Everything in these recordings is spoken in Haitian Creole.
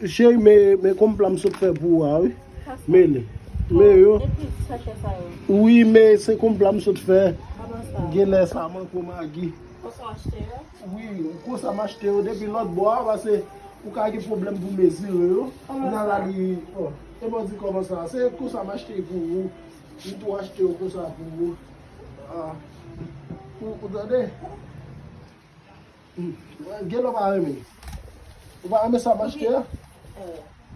Cheri men konm pla m sot fè pou ou a wi. Men li. Men yo. Depi sachè sa yo. Wi men se konm pla m sot fè. Kòman sa? Genlè sa manke w magi. Konsa w achte yo? Wi konsa m achte yo depi lòt bò a pase ou ka gen pwoblèm pou mezire yo. Kòman sa? Nan la li o. E mwen di kòman sa. Se konsa m achte pou ou. M tou achte yo konsa pou ou. A. Ou tande? Gelo pa renmen. Ou pa renmen sa m achte a?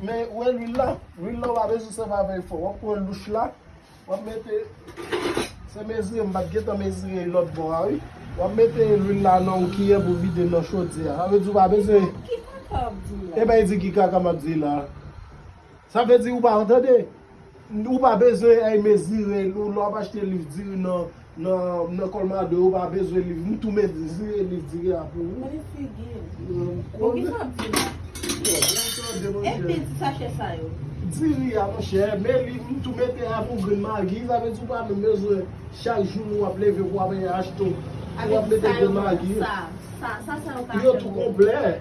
Men ou wè lwil la? Lwil la ou pa bezwen sèvi avè l fò. W ap pran louch la, w ap mete, se mezire m pa t gentan mezire l lòt bò a wi. W ap mete lwil la nan yon kiyè pou vide l nan chodyè a. Sa vle di ou pa bezwen. Ki kaka w ap di la? Eben e di ki kaka m ap di la. Sa vle di ou pa entande? Ou pa bezwen al mezire liv lè w ap achte liv diri nan Colmado ou pa bezwen liv m tou mezire liv diri a pou ou. Konnen figi l. Bon kisa w ap di la? Enpe ti sachè sa yo. Diri a monchè men liv m tou mete a pou grenn magi sa vle di ou pa menm bezwen chak jou lè w ap leve pou w al achte pou w ap mete grenn magi. Sa sa yo ka fè pou ou. Yo tou konplè.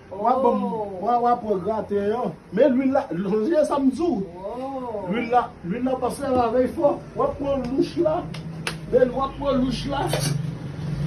Wap banm wa wap wè graten yo. Men lwil la sonje sam diw. Lwil la lwil la pa fè ravèy fò. Wap pran louch la. Men wap pran louch la.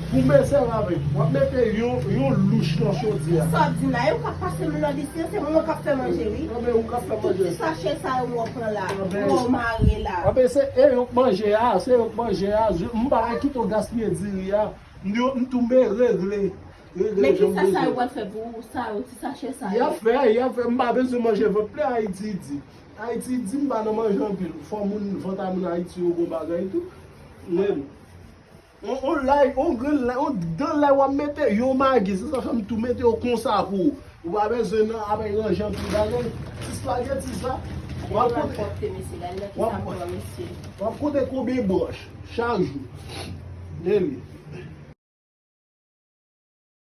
Pou men fè ravèy. Wap mete yon louch nan chodyè a. Sa wap dim la yo kap pase lwil nan disken se mwen kap fè manje wi. Anben ou kap fè manje. Tout ti sachè sa yo wap pran la. Anben. Pou mare la. Anben se e yo k manje a. Se yo k manje a. M pa gen kito gaspiye diri a. M tou mere gle. Men kisa sa yo pral fè pou sa yo ti sachè sa yo. Yap fè, yap fè, m pa bezwen manje vant plen Haiti di. Haiti di m pa nan manje anpil. Fò moun vant a moun Haiti yo bon bagay tou. Men On lay, on grenn lay, on dan lay wap mete, yon magi se sa fè m tou mete yo konsa pou ou. Ou pa bezwen nan avèk ranje anpil bagay. Ti spaghetti sa, wap konte konbyen branch chak jou. Anmweyy.